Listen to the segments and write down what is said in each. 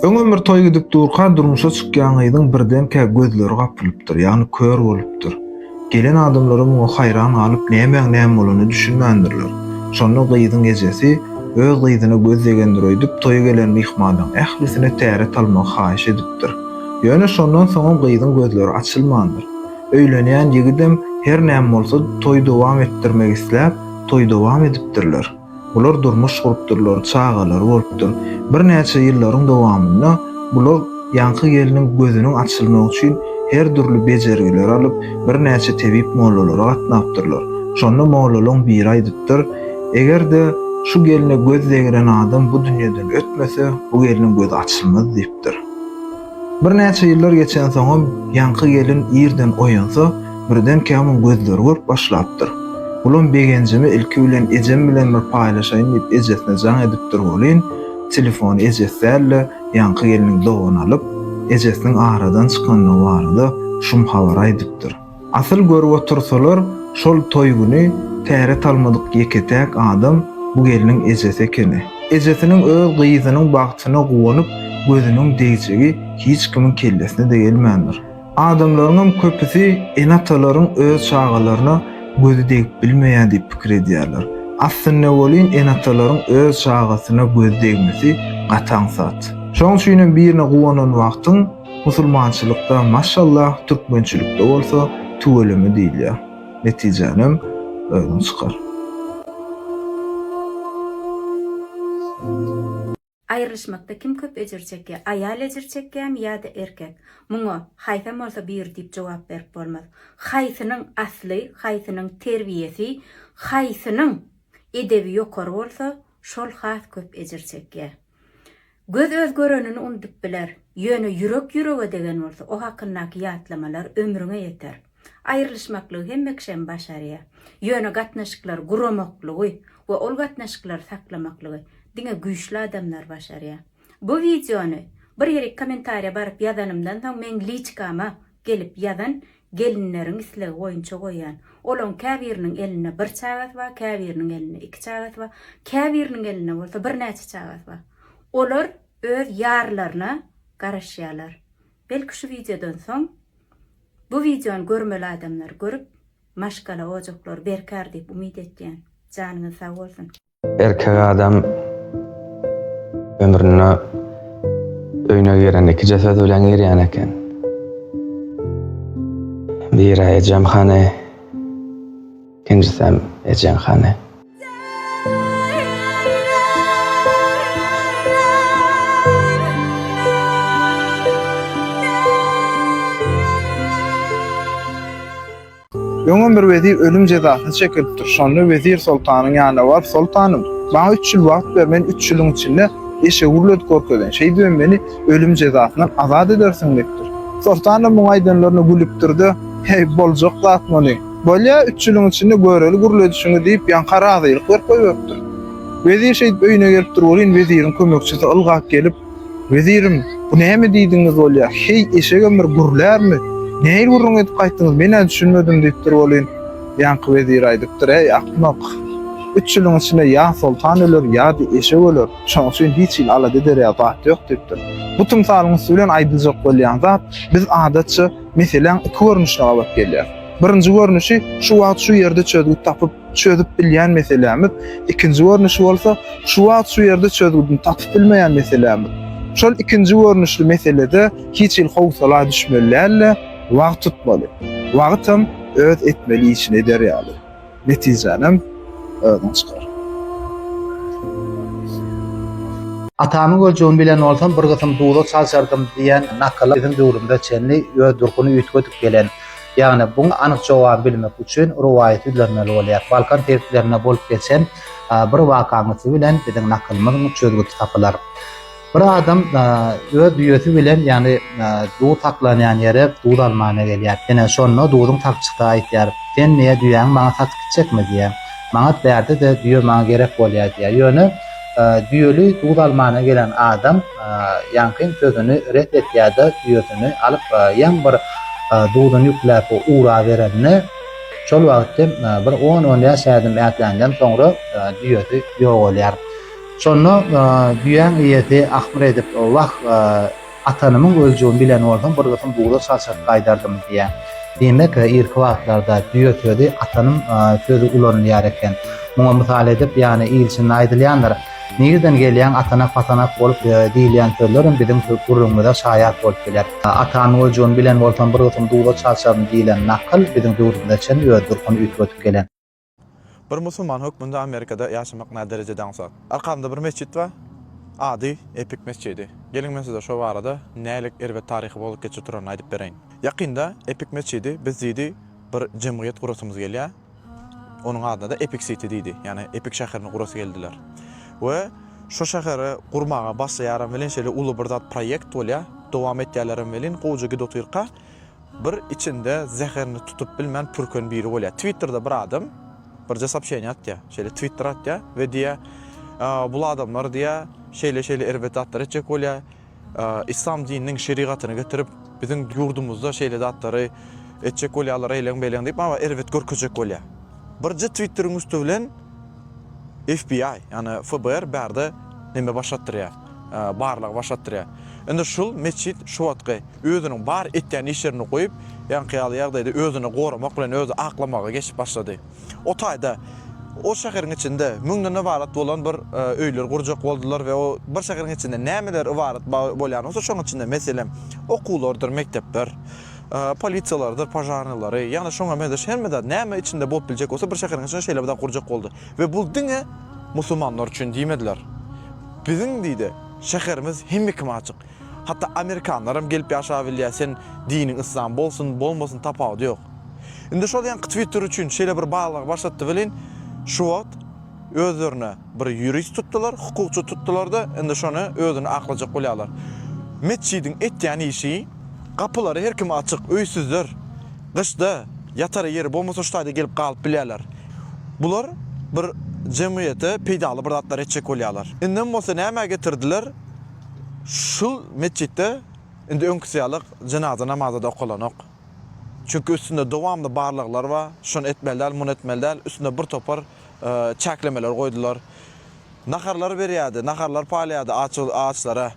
Öňem bir toý gidip durka durmuşa çykýan gyzyň birdenkä gözleri gapylypdyr, ýagny kör bolupdyr. Gelen adamlara muňa haýran galyp nämäň näme bolanyny düşünmändirler. Şonda gyzyň ejesi öz gyzyna göz degendir öýdüp toýa gelen myhmanlaň ählisine täret almagy haýyş edipdir. Ýöne şondan soňam gyzyň gözleri açylmandyr. Öýlenýän ýigidem her näme bolsa toý dowam etdirmek isläp toý dowam edipdirler. Bular durmuş gurupdyrlar, çagalary bolupdyr. Birnäçe ýyllaryň dowamynda bular ýaňky gelniň gözüniň açylmagy üçin her dürli bejergileri alyp, birnäçe tebip mollalara gatnapdyrlar. Şonda mollalaň biri aýdypdyr, Eger-de şu gelne göz degren adam bu dünýeden ötmese, bu gelniň gözi açylmaz diýipdir. Birnäçe ýyllar geçensoňam ýaňky gelin irden oýansa, birdenkä onuň gözleri görüp başlapdyr. Bulam begenjimi ilki bilen ejem bilen bir paýlaşaýyn diýip ejesine jaň edipdir welin, telefony ejesi däl-de, ýaňky gelniň dogany alyp, ejesiniň aradan çykandygy barada şum habary aýdypdyr. Asyl görüp otursalar şol toý güni täret talmadyk ýeke-täk adam bu gelniň ejesi ekeni. Ejesiniň öz gyzynyň bagtyna guwanyp gözüniň degjegi hiç kimiň kellesine-de gelmändir. Adamlaryňam köpüsi ene-atalaryň öz çagalaryna gözi degip bilmeýär diýip pikir edýärler. Aslynda welin ene-atalaryň öz çagasyna gözi degmesi gaty aňsat. Şonuň üçinem birine guwanan wagtyň, Musulmançylykda maşallah türkmençilikde bolsa tüweleme diýilýä. Netijänem özüň çykar. Aýrylyşmakda kim köp ejir çekýär? Aýal ejir çekýämi ýa-da erkek? Muňa, haýsam bolsa biri diýip jogap berip bolmaz. Haýsynyň asly, haýsynyň terbiýesi, haýsynyň edebi ýokary bolsa, şol has köp ejir çekýär. Göz öz görenini unudyp biler, ýöne ýürek ýürege degen bolsa, o hakyndaky ýatlamalar ömrüňe ýeter. Aýrylyşmaklygy hemme kişi hem başarýar. Ýöne gatnaşyklary guramaklygy we ol gatnaşyklary saklamaklygy diňe güýçli adamlar başarýar. Bu wideony bir ýerik kommentariýa baryp ýazanymdan soň meň liçkama gelip ýazan gelinleriň islegi boýunça goýýan. Olaryň käbiriniň elinde bir çagasy bar, käbiriniň elinde iki çagasy bar, käbiriniň elinde bolsa birnäçe çagasy bar. Olar öz ýarlaryna garaşýarlar. Belki şu wideodan soň bu wideony görmeli adamlar görüp, maşgala ojaklary berkär diýip umyt etýän. Janyňyz sag bolsun! Erkek adam ömrüne öýüne giren iki ceset bilen girýän eken. Biri ejem hany, ikinjisem ejeň hany. Öňem bir wezir ölüm jezasyny çekilipdir. Şonda wezir soltanyň ýanyna baryp, Soltanym, maňa üç ýyl wagt ber, men üç ýylyň içinde eşegi gürledip görkezeýin. Şeýdibem meni ölüm jezasyndan azat edersiň diýipdir. Soltan hem muňa aýdanlaryna gülüpdir-de, Heý, boljak zat muny. Bolýa, üç ýylyň içinde göreli gürledişiňi diýip, ýaňka razylyk berip goýberipdir. Wezir şeýdip öýüne gelipdir welin, weziriň kömekçisi ylgap gelip, Wezirim, bu näme diýdigiňiz bolýar? Heý, eşek ömür, gürlärmi? Nähili gürrüň edip gaýtdyňyz, men-ä düşünmedim, diýipdir welin, ýaňky wezir aýdypdyr, Äý, akmak! Üç ýylyň içinde ýa soltan öler, ýa-da eşek öler, şonuň üçin hiç hili alada ederýag zat ýok, diýipdir. Bu tymsalyň üsti bilen aýdyljak bolýan zat, biz, adatça, meseläň iki görnüşine gabat gelýäris. Birinji görnüşi, şu wagt şu ýerde çözgüt tapyp, çözüp bilýän meselämiz, ikinji görnüşi bolsa, şu wagt şu ýerde çözgüdini tapyp bilmeýän meselämiz. Şol ikinji görnüşli meselede hiç hili howsala düşmeli däl-de, wagt tutmaly. Wagt hem öz etmeli işini eder ýaly. Netijänem özüň çykar. Atamyň öljegini bilen bolsam, bir gysym duza çalşardym diýen nakyla biziň döwrümize çenli öz durkuny üýtgedip gelen Ýagny, buň anyk jogaby bilmek üçin rowaýaty ýüzlenmeli bolýar. Balkan sebitlerinde bolup geçen bir wakaň üsti bilen biziň nakylymyzyň çözgüti tapylar. Bir adam öz düýesi bilen, ýagny, duz saklanýan ýere duz almana gelýär. Ine, şonda duzuň sakçysy aýdýar, Sen niýe düýäňi maňa satyp gitjekmi? diýýär. Manat bärde-de, düýe maňa gerek bolýar diýýär. Ýöne Düýeli duz almana gelen adam ýaňky sözüni ret etýär-de, düýesini alyp ýaň bir duzuny ýükläp uraberende, şol wagt hem bir on-on bäş ädim ätländen soňra düýesi ýogalýar. Şonda düýäň eýesi ahmyr edip, Wah! Atanymyň öljegiň bilen bolsam bir gysym buza çalşyryp gaýdardym diýýär. Diýmek irki wagtlarda düýe sözi atanym sözi ulanylýar eken. Muňa mysal edip ýany il içinde aýdylýandyr. Nirden gelýäň atanak patanak bolup diýilýän sözlerem biziň gürrüňimize şaýat bolup biler. Atanymyň öljegiň bilen bolsam bir gysym buza çalşaryn diýilen nakyl biziň döwrümize çenli öz durkuny üýtgedip gelen. Bir musulman hökmünde Amerikada ýaşamak nä derejede aňsat? Arkamda bir mesjit bar. Ady Epik mesjidi. Geliň men size şo barada nälik erbet taryhy bolup geçip duranyny aýdyp bereýin. Ýakynda Epik mesjidi biz diýdi bir jemgyýet gurasymyz gelýär. Onuň adyna-da Epik Siti diýdi. Ýagny Epik şäherini gurasy geldiler. We şo şäheri gurmaga başlaýaram welin şeýle uly bir zat proýekt bolýar. Dowam etýärlerem welin gowja gidotyrka Bir içinde zäherini tutup bilmän pürken biri bolýar. Twitterde bir adam birje soobşeniýa atýar. Şeýle twitter atýar we diýýär, Bul adamlar diýýär, şeýle-şeýle erbet zatlar etjek bolýar. Yslam dininiň şerigatyny getirip, biziň ýurdumyzda şeýle zatlary etjek bolýarlar, eýleň-beýleň diýip, maňa erbet görkezjek bolýar. Birje twitteriň üsti bilen FBI, ýagny FBR bärde neme başlatdyrýar. barlagy baş atdyrýar. Indi şul metjit şu wagtky özüniň bar etýän işlerini goýup, ýaňky ýaly ýagdaýda özüni goramak bilen özi aklamaga geçip başlady. O taýda o şäheriň içinde müňden ybarat bolan bir öýler gurjak boldular we o bir şäheriň içinde nämeler ybarat bolýan bolsa şoň içinde meselem okuwlardyr mekdepler, polisiýalarydyr požarnylary ýagny şoňa meňzeş hemme zat näme içinde bolup biljek bolsa bir şäheriň içinde şeýle bir zat gurjak boldy we bul diňe musulmanlar üçin diýmediler. Biziň diýde şäherimiz hemme kime açyk. Hatda amerikanlaram gelip ýaşabilýä sen diniň yslam bolsun bolmasyn tapawudy ýok. Indi şol ýaňky twitter üçin şeýle bir barlagy başlatdy welin şu wagt özlerine bir ýurist tutdylar hukukçy tutdylarda indi şony özüni aklajak bolýalar. Metjidiň etýän işi gapylary her kime açyk öýsüzler gyşda ýatara ýeri bolmasa şu taýda gelip galyp bilýäler. Bular bir jemgyýete peýdaly bir zatlar etjek bolýarlar. Indem bolsa nämä getirdiler, şul metjitde indi öňküsi ýaly jenaza namazy-da okalanok. Çünki üstünde dowamly barlaglar bar, şony etmeli däl, muny etmeli däl, üstüne bir topar çäklemeler goýdular. Naharlar berýärdi, naharlar paýlaýardy açlara,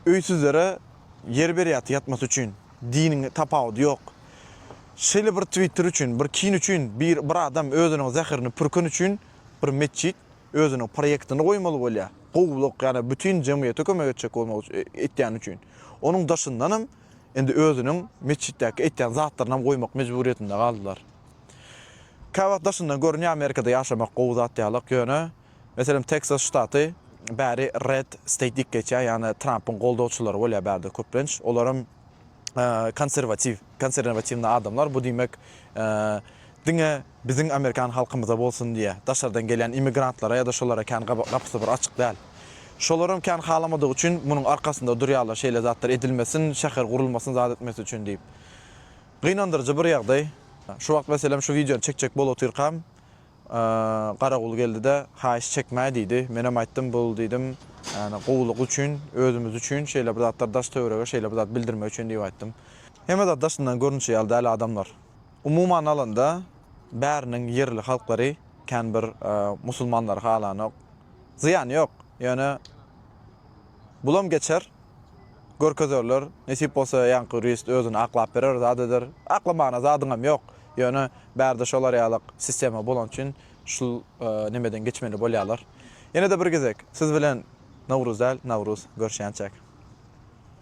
öýsüzlere ýer berýärdi ýatmasy üçin. Diniň tapawudy ýok. Şeýle bir twitter üçin, bir kin üçin bir bir adam özüniň zäherini pürken üçin bir metjit özüniň proýektini goýmaly bolýa. Gowulyk ýa-da bütin jemgyýete kömek etjek bolmak etýäni üçin. Onuň daşyndanam indi özüniň metjitdäki etýän zatlarynam goýmak mejburyýetinde galdylar. Käwagt daşyndan görünýär Amerikada ýaşamak gowy zat ýalyk ýöne meselem Teksas ştaty bäri red state diýip geçýär ýagny Trampyň goldawçylary bolýar bärde köplenç olaram konserwatiw, konserwatiwny adamlar, bu diýmek, diňe biziň amerikan halkymyza bolsun diýýär, daşardan gelýän immigrantlara ýa-da şolara kän gapysy bir açyk däl. Şolaram kän halamadygy üçin munuň arkasynda durýarlar, şeýle zatlar edilmesin, şäher gurulmasyn zat etmesi üçin diýip. Gynandyryjy bir ýagdaý. Şu wagt meselem şu wideony çekjek bolup otyrkam, Garagul geldi-de, Haýyş çekmäý diýdi. Menem aýtdym, Bul diýdim, ýagny gowulyk üçin, özümiz üçin şeýle bir zatlar daş-töwerege şeýle bir zat bildirmek üçin diýip aýtdym. Hemme zat daşyndan görnüşi ýaly däl adamlar. Umuman alanda bäriniň ýerli halklary kän bir musulmanlary halanok. Zyýany ýok. Ýöne bulam geçer, görkezerler. Nesip bolsa ýaňky ýurist özüni aklap berer, zat eder. Aklamagyna zadyňam ýok. Ýöne bärde şolar ýalak sistema bolany üçin şul nemeden geçmeli bolýalar. Ýene-de bir gezek siz bilen Nowruz däl, Nawruz görşýänçäk.